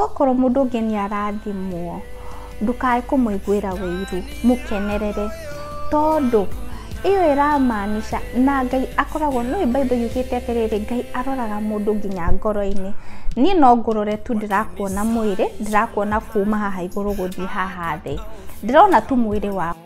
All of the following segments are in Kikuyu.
Okorwo mũndũ ũngĩ nĩ arathimwo, ndũkae kũmũiguĩra ũiru, mũkenerere, tondũ ĩyo ĩra maanisha na Ngai akoragwo, nĩ ũĩ Bible yugĩte atĩrĩrĩ, Ngai aroraga mũndũ nginya ngoro-inĩ. Niĩ no ngũrore tu ndĩrakuona mwĩrĩ, ndĩrakuona kuuma haha igũrũ gũthiĩ haha thĩ. Ndĩrona tu mwĩrĩ waku.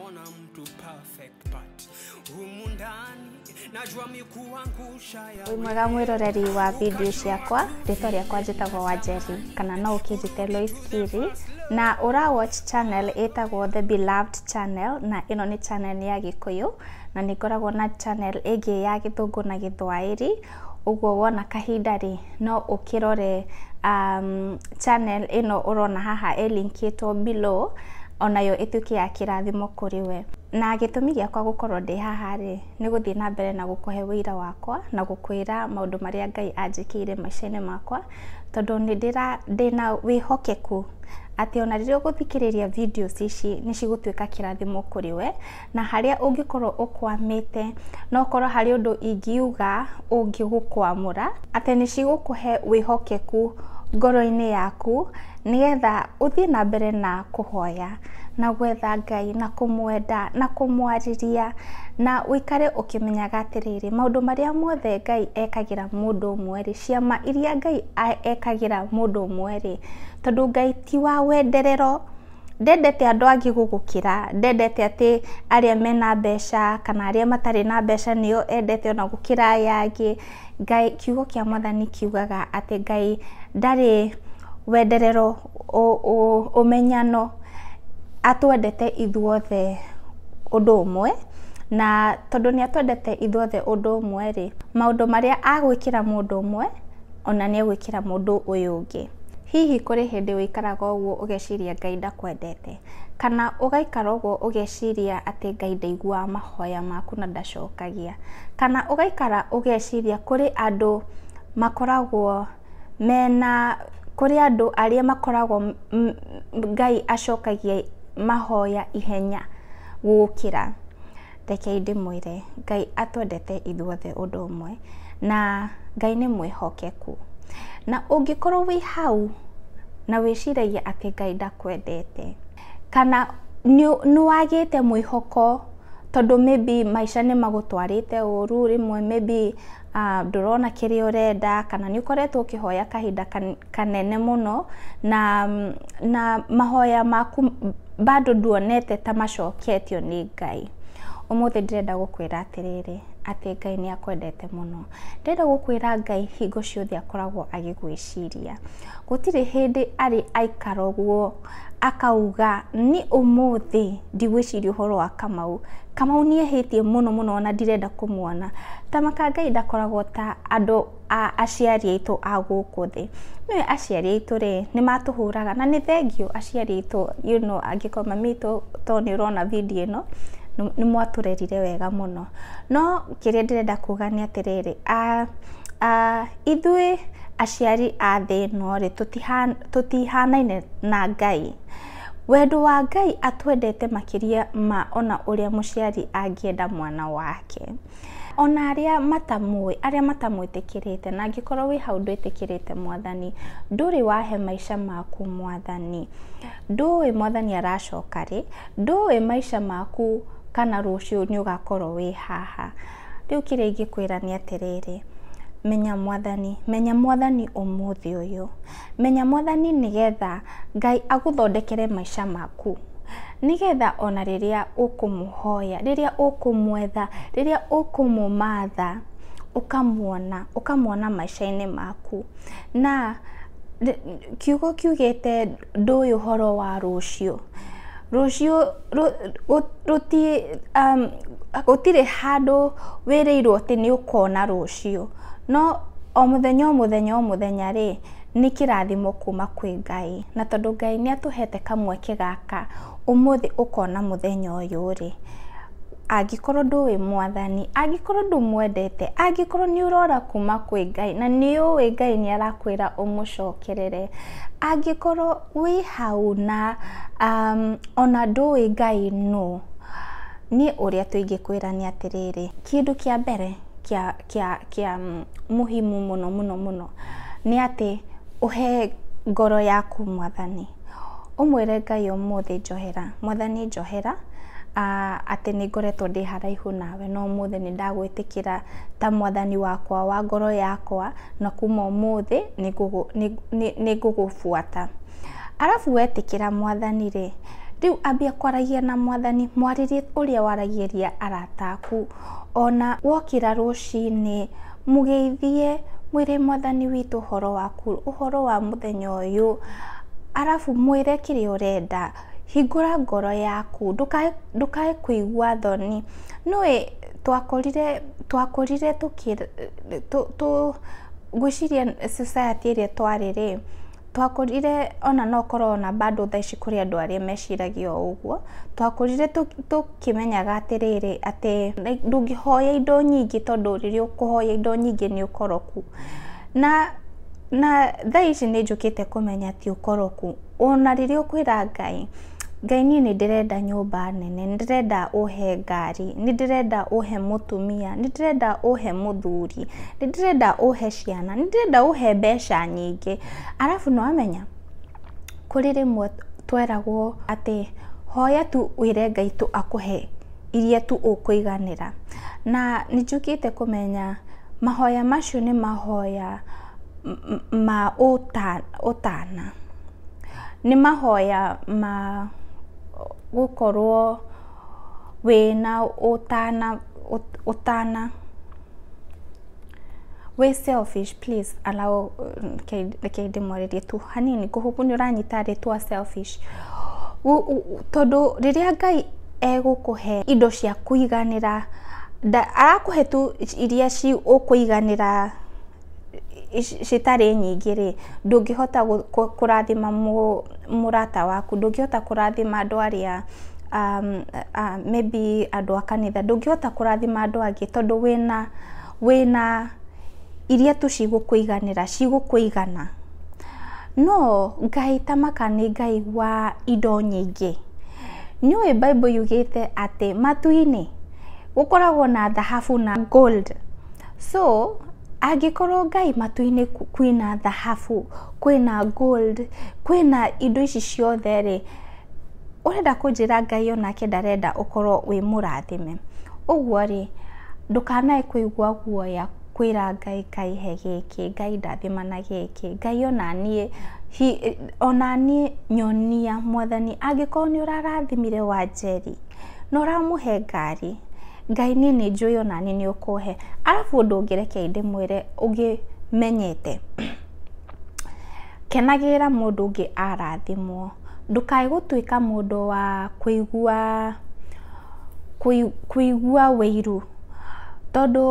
perfect part humu ndani najua mikuangusha ya mwega mwiroreri wa video ciakwa rĩtwa rĩakwa njĩtagwo wanjeri kana no ũkĩnjĩte lois kiri na ũra watch channel ĩtagwo the beloved channel na ĩno nĩ channel ya gĩkũyũ na nĩ ngoragwo na channel ĩngĩ ya gĩthũngũ na gĩthwaĩri Ũguo wona kahinda rĩ, no ũkĩrore channel ĩno ũrona haha ĩ link ĩtwo below, onayo ĩtuĩke ya kĩrathimo kũrĩ we. Na gĩtũmi gĩakwa gũkorwo ndĩ haha rĩ, nĩ gũthiĩ na mbere na gũkũhe ũira wakwa, na gũkwĩra maũndũ marĩa Ngai anjĩkĩire maica-inĩ makwa, tondũ nĩ ndĩna wĩhokeku atĩ ona rĩrĩa ũgũthikĩrĩria videos ici nĩ cigũtuĩka kĩrathimo kũrĩ we. na harĩa ũngĩkorwo ũkwamĩte, na okorwo harĩ ũndũ ingiuga ũngĩgũkwamũra, atĩ nĩ cigũkũhe wĩhokeku ngoro-inĩ yaku, nĩgetha ũthiĩ na mbere na kũhoya, na gwetha Ngai, na kũmwenda, na kũmwarĩria, na ũikare ũkĩmenyaga atĩrĩrĩ, maũndũ marĩa mothe Ngai ekagĩra mũndũ ũmwe rĩ, ciama iria Ngai ekagĩra mũndũ ũmwe rĩ, tondũ Ngai ti wa wenderero. Ndendete andũ angĩ gũgũkĩra, ndendete atĩ arĩa mena mbeca kana arĩa matarĩ na mbeca nĩo endete ona gũkĩra aya angĩ. Ngai, kiugo kĩa Mwathani kiugaga atĩ Ngai ndarĩ wenderero ũmenyano, atwendete ithuothe ũndũ ũmwe, na tondũ nĩatwendete ithuothe ũndũ ũmwe rĩ, maũndũ marĩa agwĩkĩra mũndũ ũmwe. ona nĩ egwĩkĩra mũndũ ũyũ ũngĩ. Hihi kũrĩ hĩndĩ ũikaraga ũguo ũgeciria Ngai ndakwendete? Kana ũgaikara ũguo ũgeciria atĩ Ngai ndaiguaga mahoya maku na ndacokagia? Kana ũgaikara ũgeciria kũrĩ andũ makoragwo mena, kũrĩ andũ arĩa makoragwo Ngai acokagia mahoya ihenya gũgũkĩra? rekei ndĩmwĩre, Ngai atwendete ithuothe ũndũ ũmwe, na Ngai nĩ mwĩhokeku. Na ũngĩkorwo wĩ hau na wĩciragia atĩ Ngai ndakwendete, kana nĩ nĩ wagĩte mwĩhoko tondũ maybe maica nĩ magũtwarĩte ũru, rĩmwe maybe ndũrona kĩrĩa ũrenda, kana nĩ ũkoretwo ũkĩhoya kahinda kanene mũno, na na mahoya maku bado nduonete ta macoketio nĩ Ngai. Ũmũthĩ ndĩrenda gũkwĩra atĩrĩrĩ, atĩ Ngai nĩ akwendete mũno. Ndĩrenda gũkwĩra Ngai hingo ciothe akoragwo agĩgwĩciria. Gũtirĩ hĩndĩ arĩ aikara ũguo akauga, niĩ ũmũthĩ ndigwĩciria ũhoro wa Kamau. Kamau nĩ ehĩtie mũno mũno ona ndirenda kũmuona. Tama ka Ngai ndakoragwo ta andũ a aciari aitũ a gũkũ thĩ. Nĩ ũĩ aciari aitũ rĩ, nĩ matũhũraga na nĩ thengiũ aciari aitũ you know angĩkorwo mami witũ to nĩ ũrona video ĩno, nĩ mwatũrerire wega mũno. No kĩrĩa ndĩrenda kuga nĩ atĩrĩrĩ, ithuĩ aciari a thĩ ĩno rĩ, tũtihanaine na Ngai. Wendo wa Ngai atwendete makĩria ma ona ũrĩa mũciari angĩenda mwana wake. Ona arĩa matamũĩ, arĩa matamwĩtĩkĩrĩte, na angĩkorwo wĩ hau ndwĩtĩkĩrĩte mwathani, ndũrĩ wahe maica maku mwathani, ndũĩ mwathani aracoka rĩ, ndũĩ maica maku kana rũciũ nĩ ũgakorwo wĩ haha. Rĩu kĩrĩa ingĩkwĩra nĩ atĩrĩrĩ, menya mwathani, menya mwathani ũmũthĩ ũyũ. Menya mwathani nĩgetha Ngai agũthondekere maica maku. Nĩgetha ona rĩrĩa ũkũmũhoya, rĩrĩa ũkũmwetha, rĩrĩa ũkũmũmatha, ũkamuona, ũkamuona maica-inĩ maku. Na kiugo kiugĩte ndũĩ ũhoro wa rũciũ. Rũciũ gũtirĩ handũ wĩrĩirwo atĩ nĩ ũkona rũciũ. No o mũthenya o mũthenya o mũthenya rĩ, nĩ kĩrathimo kuuma kwĩ Ngai. Na tondũ Ngai nĩ atũhete kamweke gaka, ũmũthĩ ũkona mũthenya ũyũ rĩ, angĩkorwo ndũĩ mwathani, angĩkorwo ndũmwendete, angĩkorwo nĩ ũrora kuuma kwĩ Ngai, na nĩ ũĩ Ngai nĩ arakwĩra ũmũcokerere, angĩkorwo wĩ hau na ona ndũĩ Ngai nũ, niĩ ũrĩa tũingĩkwĩra nĩ atĩrĩrĩ, kĩndũ kĩa mbere kĩa... kĩa kĩa mũhimu mũno mũno mũno nĩ atĩ ũhe ngoro yaku mwathani. Ũmwĩre Ngai ũmũthĩ njohera, mwathani njohera atĩ nĩ ngoretwo ndĩ haraihu nawe no ũmũthĩ nĩ ndagwĩtĩkĩra ta mwathani wakwa wa ngoro yakwa na kuma ũmũthĩ nĩ ngũgũbuata. Arabu wetĩkĩra mwathani rĩ, rĩu ambia kwaragia na mwathani, mwarĩrie ũrĩa waragĩria arata aku Ona wokĩra rũcinĩ, mũgeithie mwĩre Mwathani witũ ũhoro waku, ũhoro wa mũthenya ũyũ, arabu mwĩre kĩrĩa ũrenda. Hingũra ngoro yaku, ndũkae ndũkae kũigua thoni. Nĩũĩ twakorire twakorire tũkĩ tũ ngwĩciria society ĩrĩa twarĩ rĩ. Twakũrire ona no ũkorwo ona bado thaa ici kũrĩ andũ arĩa meciragia o ũguo. Twakũrire tũkĩmenyaga atĩrĩrĩ, atĩ ndũngĩhoya indo nyingĩ tondũ rĩrĩa ũkũhoya indo nyingĩ nĩ ũkoroku. Na na thaa ici nĩ njũkĩte kũmenya ti ũkoroku. Ona rĩrĩa ũkwĩra Ngai... Ngai niĩ nĩ ndĩrenda nyũmba nene, nĩ ndĩrenda ũhe ngari, nĩ ndĩrenda ũhe mũtumia, nĩ ndĩrenda ũhe mũthuri, nĩ ndĩrenda ũhe ciana, nĩ ndĩrenda ũhe mbeca nyingĩ. Arabu nĩ wamenya, kũrĩ rĩmwe tweragwo atĩ hoya tu wĩre Ngai tu akũhe iria tu ũkũiganĩra. Na nĩ njũkĩte kũmenya mahoya macio nĩ mahoya. ma ũtana, nĩ mahoya ma gũkorwo wĩna ũtana ũtana, wĩ selfish please allow reke ndĩmwarĩrie tu hanini kũhũkũ nĩ ũranyita rĩtwa selfish tondũ rĩrĩa Ngai egũkũhe indo cia kũiganĩra arakũhe tu iria cigũkũiganĩra. citarĩ nyingĩ rĩ, ndũngĩhota kũrathima mũrata waku, ndũngĩhota kũrathima andũ arĩa maybe andũ a kanitha, ndũngĩhota kũrathima andũ angĩ tondũ wĩna wĩna iria tu cigũkũiganĩra, cigũkũigana. No Ngai ta maka nĩ Ngai wa indo nyingĩ. Nĩ ũĩ Bible yugĩte atĩ matu-inĩ gũkoragwo na thahabu na gold. So, angĩkorwo Ngai matu-inĩ kwĩna thahabu, kwĩna gold, kwĩna indo ici ciothe rĩ, ũrenda kũnjĩra Ngai o nake ndarenda ũkorwo wĩ mũrathime? Ũguo rĩ, ndũkanae kũigua guoya kwĩra Ngai, Ngai he gĩkĩ, Ngai ndathima na gĩkĩ, Ngai o na niĩ hi, o na niĩ nyonia, mwathani angĩkorwo nĩ ũrarathimire Wanjeri. na ũramũhe ngari, Ngai niĩ nĩ njũĩ o naniĩ nĩ ũkũhe. Arabu ũndũ ũngĩ reke ndĩmwĩre ũngĩ menyete, kenagĩrĩra mũndũ ũngĩ arathimwo, ndũkae gũtuĩka mũndũ wa kũigua kũigua ũiru, tondũ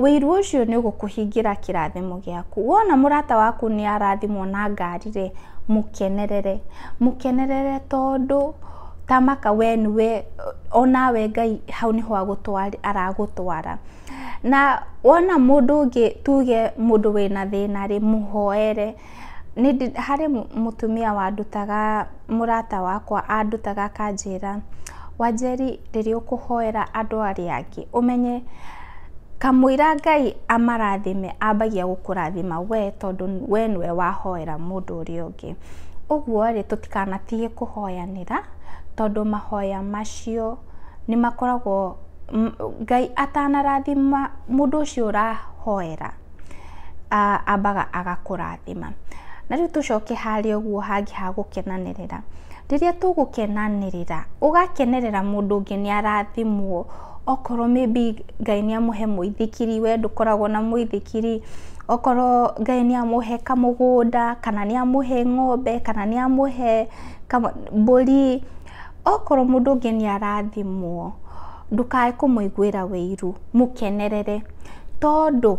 ũiru ũcio nĩ ũgũkũhingĩra kĩrathimo gĩaku. Wona mũrata waku nĩ arathimwo na ngari rĩ, mũkenerere, mũkenerere tondũ... Ta maka we nĩ we, o nawe Ngai hau nĩ ho agũtwara, aragũtwara. Na wona mũndũ ũngĩ tuge mũndũ wĩna thĩna rĩ, mũhoere. Nĩ ndĩ, harĩ mũtumia wandutaga, mũrata wakwa andutaga akanjĩra, Wanjeri rĩrĩa ũkũhoera andũ arĩa angĩ, ũmenye kamũira Ngai amarathime ambagia gũkũrathima we tondũ we nĩ we wahoera mũndũ ũrĩa ũngĩ. kĩngĩ. Ũguo rĩ, tũtikanatige kũhoyanĩra tondũ mahoya macio nĩ makoragwo, Ngai atanarathima mũndũ ũcio ũrahoera, ambaga agakũrathima. Na rĩu tũcoke harĩa ũguo hangĩ ha gũkenanĩrĩra. Rĩrĩa tũgũkenanĩrĩra, ũgakenerera mũndũ ũngĩ nĩ arathimwo. Okorwo maybe Ngai nĩ amũhe mũithikiri, we ndũkoragwo na mũithikiri, okorwo Ngai nĩ amũhe kamũgũnda, kana nĩ amũhe ng'ombe, kana nĩ amũhe mbũri, okorwo mũndũ ũngĩ nĩ arathimwo, ndũkae kũmũiguĩra ũiru, mũkenerere, tondũ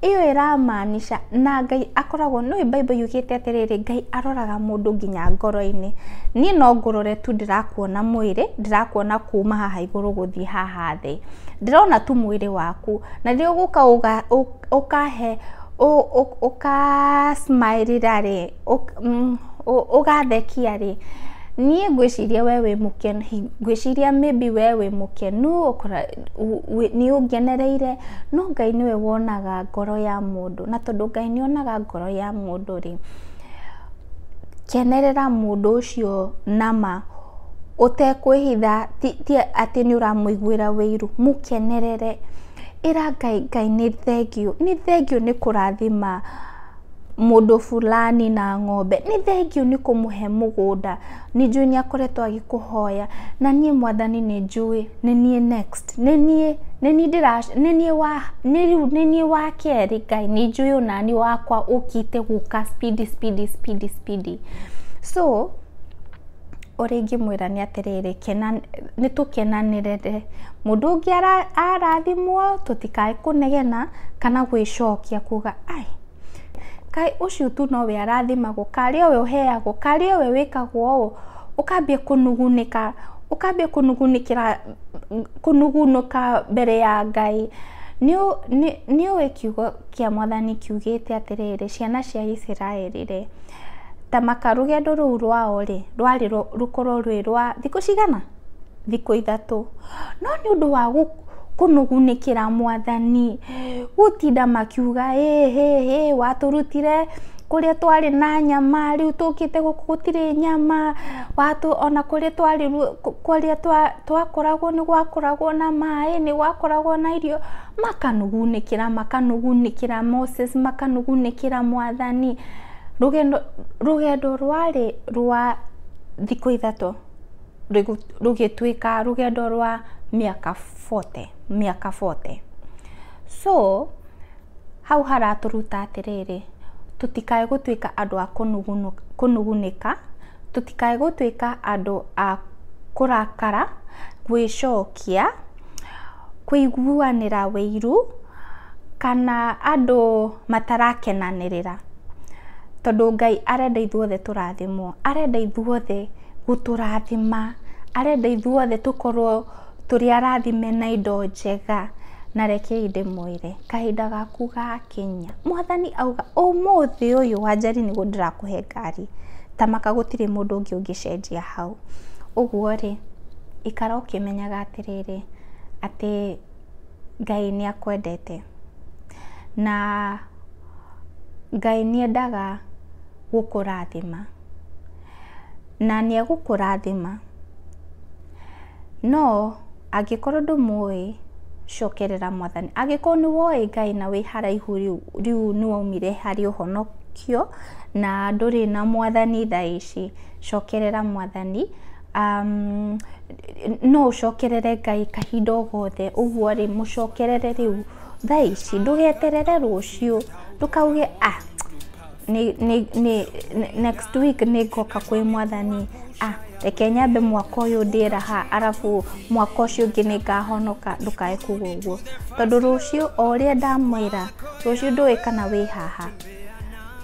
Ĩyo ĩramaanisha na Ngai akoragwo, nĩ ũĩ Bible yugĩte atĩrĩrĩ, Ngai aroraga mũndũ nginya ngoro-inĩ. Niĩ no ngũrore tu ndĩrakuona mwĩrĩ, ndĩrakuona kuuma haha igũrũ gũthiĩ haha thĩ. Ndĩrona tu mwĩrĩ waku. Na rĩrĩa ũgũka ũkahe, ũka smile ĩra rĩ, ũgathekia rĩ, niĩ ngwĩciria we wĩ mũkenu, ngwĩciria maybe we wĩ mũkenu. nĩũngenereire, no Ngai nĩwe wonaga ngoro ya mũndũ, na tondũ Ngai nĩ onaga ngoro ya mũndũ rĩ, kenerera mũndũ ũcio na ma, ũtekwĩhitha ti atĩ nĩ ũramũiguĩra ũiru, mũkenerere, ĩra Ngai, Ngai nĩ thengiũ, nĩ thengiũ nĩ kũrathima mũndũ fulani na ng'ombe, nĩ thengiũ nĩ kũmũhe mũgũnda. Nĩ njũĩ nĩ akoretwo agĩkũhoya, na niĩ Mwathani nĩ njũĩ nĩ niĩ next, nĩ niĩ, nĩ niĩ ndĩra, nĩ niĩ wa, nĩ rĩu nĩ niĩ wa kerĩ, Ngai nĩ njũĩ o naniĩ wakwa ũkĩte gũka speedy speedy speedy speedy. So ũrĩa ingĩmwĩra nĩ atĩrĩrĩ, kena, nĩ tũkenanĩrĩre, mũndũ ũngĩ ara arathimwo tũtikae kũnegena kana gwĩcokia kuga ai. Kaĩ ũcio tu nowe arathimagwo, karĩ owe ũheagwo, karĩ owe wĩkagwo ũũ, ũkambia kũnugunĩka, ũkambia kũnugunĩkĩra, kũnugunũka mbere ya Ngai. Nĩ nĩ nĩũĩ kiugo kĩa mwathani kiugĩte atĩrĩrĩ, ciana cia Isiraeli rĩ, ta maka rũgendo rũu rwao rĩ, rwarĩ rũkorwo rwĩ rwa thikũ cigana? thikũ ithatũ, no nĩ ũndũ wa kũnũgunĩkĩra mwathani, gũtinda makiuga ĩhĩhĩ, watũrutire kũrĩa twarĩ na nyama, rĩu tũkĩte gũkũ gũtirĩ nyama, watũ ona kũrĩa twarĩ kũrĩa twakoragwo nĩ gwakoragwo na maĩ, nĩ gwakoragwo na irio, makanũgunĩkĩra, makanũgunĩkĩra Moses, makanũgunĩkĩra mwathani, rũgendo rũgendo rwarĩ rwa thikũ ithatũ. rũgĩtuĩka rũgendo rwa mĩaka bote, mĩaka bote. So hau haratũruta atĩrĩrĩ, tũtikae gũtuĩka andũ a kũnugunĩka, tũtikae gũtuĩka andũ a kũrakara, gwĩcokia, kũiguanĩra ũiru, kana andũ matarakenanĩrĩra. Tondũ Ngai arenda ithuothe tũrathimwo, arenda ithuothe gũtũrathima, arenda ithuothe tũkorwo tũrĩ arathime na indo njega, na rekei ndĩmwĩre, kahinda gaku gakinya. Mwathani auga, ũmũthĩ ũyũ wanjari nĩguo ndĩrakũhe ngari, ta maka gũtirĩ mũndũ ũngĩ ũngĩcenjia hau. Ũguo rĩ, ikara ũkĩmenyaga atĩrĩrĩ, atĩ Ngai nĩ akwendete, na Ngai nĩ endaga gũkũrathima. na nĩ egũkũrathima. No angĩkorwo ndũmũĩ, cokerera Mwathani. Angĩkorwo nĩ woĩ Ngai na wĩ haraihu rĩu, rĩu nĩ waumire harĩ ũhonokio, na ndũrĩ na Mwathani thaa ici, cokerera Mwathani. No ũcokerere Ngai kahinda o gothe. Ũguo rĩ, mũcokerere rĩu thaa ici, ndũgeterere rũciũ, ndũkauge ah. nĩ, nĩ, nĩ, nĩ- next week nĩ ngoka kwĩ mwathani ah, reke nyambe mwaka ũyũ ndĩe raha arabu mwaka ũcio ũngĩ nĩ ngahonoka ndũkae kuga ũguo tondũ rũciũ o ũrĩa ndamwĩra rũciũ ndũĩ kana wĩ haha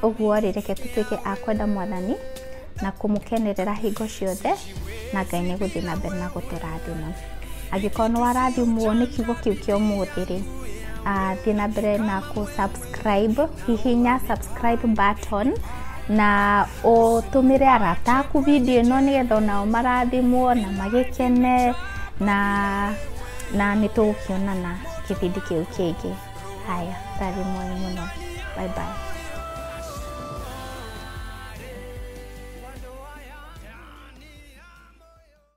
ũguo rĩ reke tũtuĩke a kwenda mwathani na kũmũkenerera hingo ciothe na ngai nĩ gũthiĩ na mbere na gũtũrathima angĩkorwo nĩ warathimwo nĩ kiugo kĩu kĩa ũmũthĩ rĩ ah, thiĩ na mbere na kũ subscribe subscribe hihinya subscribe button na ũtũmĩre arata aku video ĩno nĩgetha onao marathimwo na magĩkene na na nĩ tũgũkĩonana kĩbindi kĩu kĩngĩ haya tari mwai mũno bye bye